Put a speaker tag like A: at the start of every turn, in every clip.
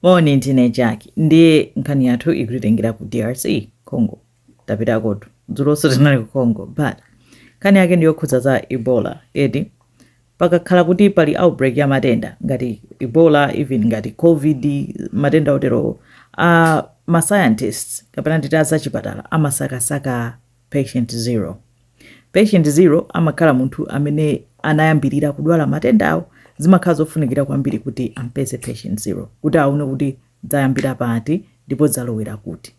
A: Moni ndine Jack ndiye nkhani yathu ikutitengera ku drc congo tapitakotu dzulonso tinali ku congo but nkhani yake ndiyokhudza za ebola eti pakakhala kuti pali outbreak ya matenda ngati ebola even ngati covid matenda oterowo a ma scientists kapena nditi azachipatala amasakasaka Patient 0 Patient 0 amakhala munthu amene anayambirira kudwala matendawo zimakhala zofunikira kwambiri kuti ampeze patient 0 kuti aone kuti zayambira pati ndipo zalowera kuti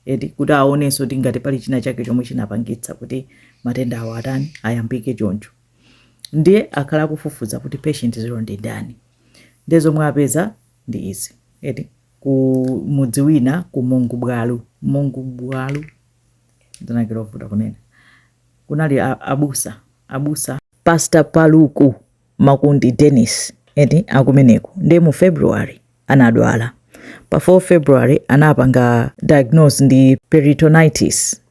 A: eti kuti aonenso kuti ngati pali china chake chomwe chinapangitsa kuti matenda awo atani ayambike choncho ndiye akhala akufufuza kuti patient 0 ndi ndani ndiye zomwe apeza ndi izi eti ku mudzi wina ku Mongbwalu Mongbwalu dzina lake lovuta kunena kunali abusa abusa pastor paluku makundi dennis eti akumeneko ndiye mu february anadwala pa 4 february anapanga diagnose ndi peritonitis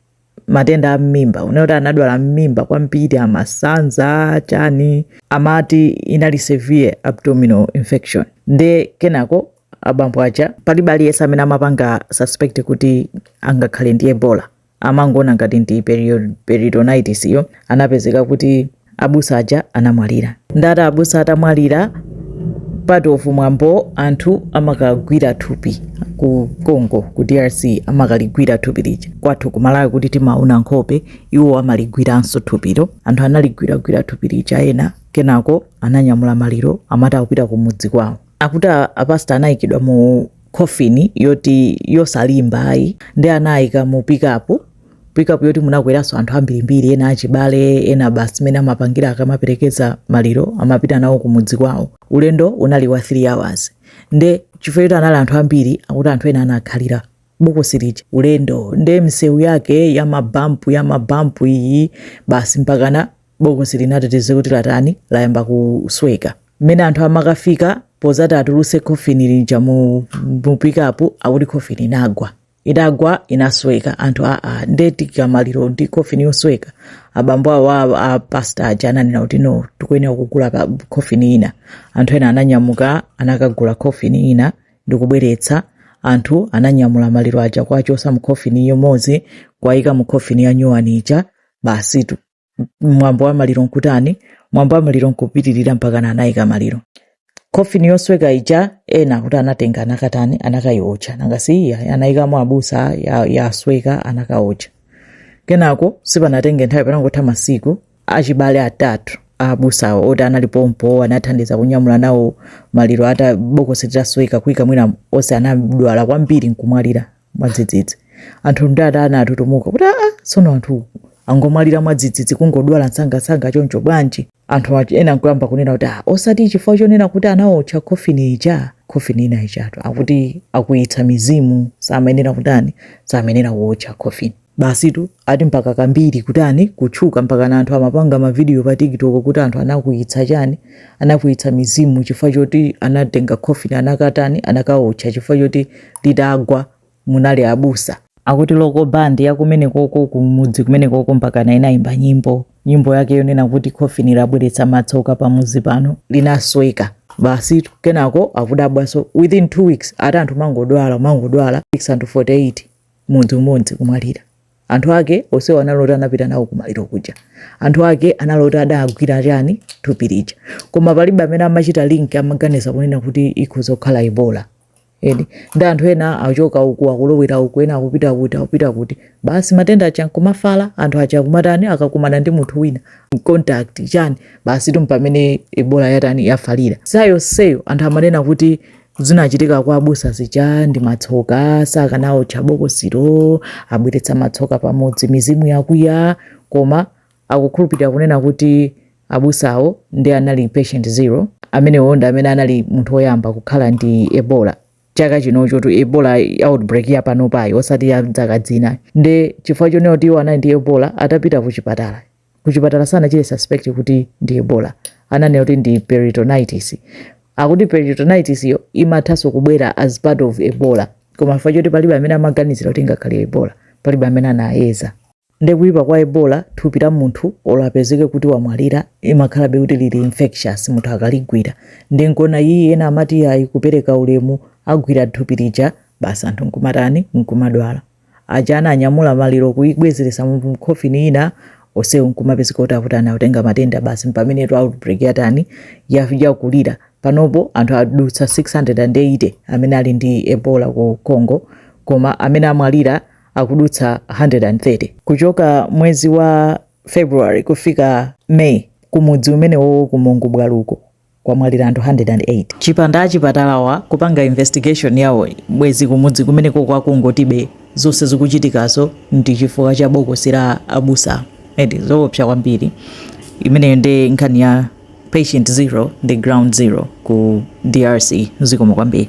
A: matenda a mmimba ndiye kuti anadwala mmimba kwambiri amasanza chani amati inali severe abdominal infection nde kenako abambo aja palibe aliyense amene amapanga suspect kuti angakhale ndi ebola amangoona ngati ndi perio- peritonitis yo anapezeka kuti abusa aja anamwalira ndiye abusa atamwalira part of mwambo anthu amakagwira thupi ku congo ku drc amakagwira thupi lija kwathu kumalawi kuno timaona nkhope iwo amaligwiranso thupilo anthu analigwiragwira thupi lija ena kenako ananyamula maliro amati akupita kumudzi kwawo akuti apasta anayikidwa mu coffin yoti yosalimba ayi nde anayika mu pikapu pikapu yoti munakweranso anthu ambirimbiri ena achibale ena basi mene amapangira akamaperekeza maliro amapita nawo kumudzi kwawo ulendo unali wa 3 hours nde chifukwa choti anali anthu ambiri akuti anthu ena anakhalira bokosi lija ulendo nde msewu yake ya mabampu ya mabampu iyi basi mpakana bokosi linati tidziwe kuti latani layamba kusweka mmene anthu amakafika pozati atuluse khofini lija mu mu pikapu akuti khofini inagwa idagwa inasweka anthu aa nde tiika maliro ndi khofini yosweka abambo awo a- a pasta aja ananena kuti no tikuyenera kugulapo khofini ina anthu ena ananyamuka anakagula khofini ina ndikubweretsa anthu ananyamula maliro aja kuwachotsa mu khofini imodzi kuwayika mu khofini yanyowani ija basitu mwambo wa maliro nkutani mwambo wa maliro nkupitirira mpaka na anayika maliro kofini yosweka ija ena kuti anatenga anakatani anakayiotcha nanga si ija anayikamo abusa ya- yasweka anakaotcha kenako sipanatenge nthawi panangotha masiku achibale atatu abusawo oti anali pompo anathandiza kunyamula nawo maliro ata bokosi litasweka kuyika mu lina onse anadwala kwambiri nkumwalira mwadzidzidzi anthu ndiye atani atutumuka kuti aa tsono anthu angomwalira mwadzidzidzi kungodwala msangamsanga choncho bwanji anthu ati- ena nkuyamba kunena kuti "Ah, osati chifukwa chonena kuti anaotcha khofini ija khofini ina ijatu akuti akwiyitsa mizimu samayenera kutani samayenera kuotcha khofini Basitu ati mpaka kambiri kutani kutchuka mpaka na anthu amapanga mavidiyo pa TikTok kuti anthu anakwiyitsa chani, anakwiyitsa mizimu chifukwa choti anatenga coffin anakatani, anakawotcha chifukwa choti litagwa munali abusa. Akuti local band ya kumenekoko kumudzi kumenekoko mpakana inayimba nyimbo, nyimbo yake yonena kuti coffin labweretsa matsoka pamudzi pano linasweka. Basitu kenako akudabwanso within two weeks ati anthu kumangodwala kumangodwala anthu 48. mudzi umodzi kumwalira anthu ake onsewo anali oti anapita nawo kumaliro kuja anthu ake anali oti adagwira chani thupi lija koma palibe amene amachita link amaganiza kunena kuti ikhoza kukhala ebola nde anthu ena achoka uku akulowera uku ena akupita kuti akupita kuti basi matenda aja nkumafala anthu aja akumatani akakumana ndi munthu wina contact chani basitu mpamene ebola yatani yafalira nthawi yonseyo anthu amanena kuti Zinachitika kwa abusa zija ndi matsoka, sakanaotcha bokosilo, abweretsa matsoka pamudzi, mizimu yakwiya, koma akukhulupirira kunena kuti abusawo ndi anali patient zero, amenewo ndi amene anali munthu woyamba kukhala ndi Ebola chaka chinochotu Ebola outbreak ya panopayi osati ya dzaka dzina, nde chifukwa chonena kuti iwo anali ndi Ebola atapita kuchipatala kuchipatala sanachite suspect kuti ndi ebola ananena kuti ndi peritonitis akuti peritonitis yo imathanso kubwera as part of ebola koma chifukwa choti palibe amene amaganizira kuti ingakhale ebola palibe amene anayeza nde kuyipa kwa ebola thupi la munthu olo apezeke kuti wamwalira imakhalabe kuti lili infectious munthu akaligwira nde nkuona iyi ena amati ayi kupereka ulemu agwira thupi lija basi anthu nkumatani nkumadwala aja ananyamula maliro kuibwezeretsa mu mu coffin ina onsewo nkumapezeka kuti akuti anatenga matenda basi mpamenetu outbreak yatani ya- yakulira panopo anthu adutsa 680 amene ali ndi ebola ku congo koma amene amwalira adutsa 130 kuchoka mwezi wa february kufika may kumudzi umenewowo ku mongbwaluko kwamwalira anthu 108. Chipanda achipatalawa kupanga investigation yawo bwezi kumudzi kumenekoko akungoti be zonse zikuchitikazo ndi chifukwa cha bokosi la abusa eti zoopsa kwambiri imeneyo nde nkhani ya patient zero ndi ground zero ku drc zikomo kwambiri.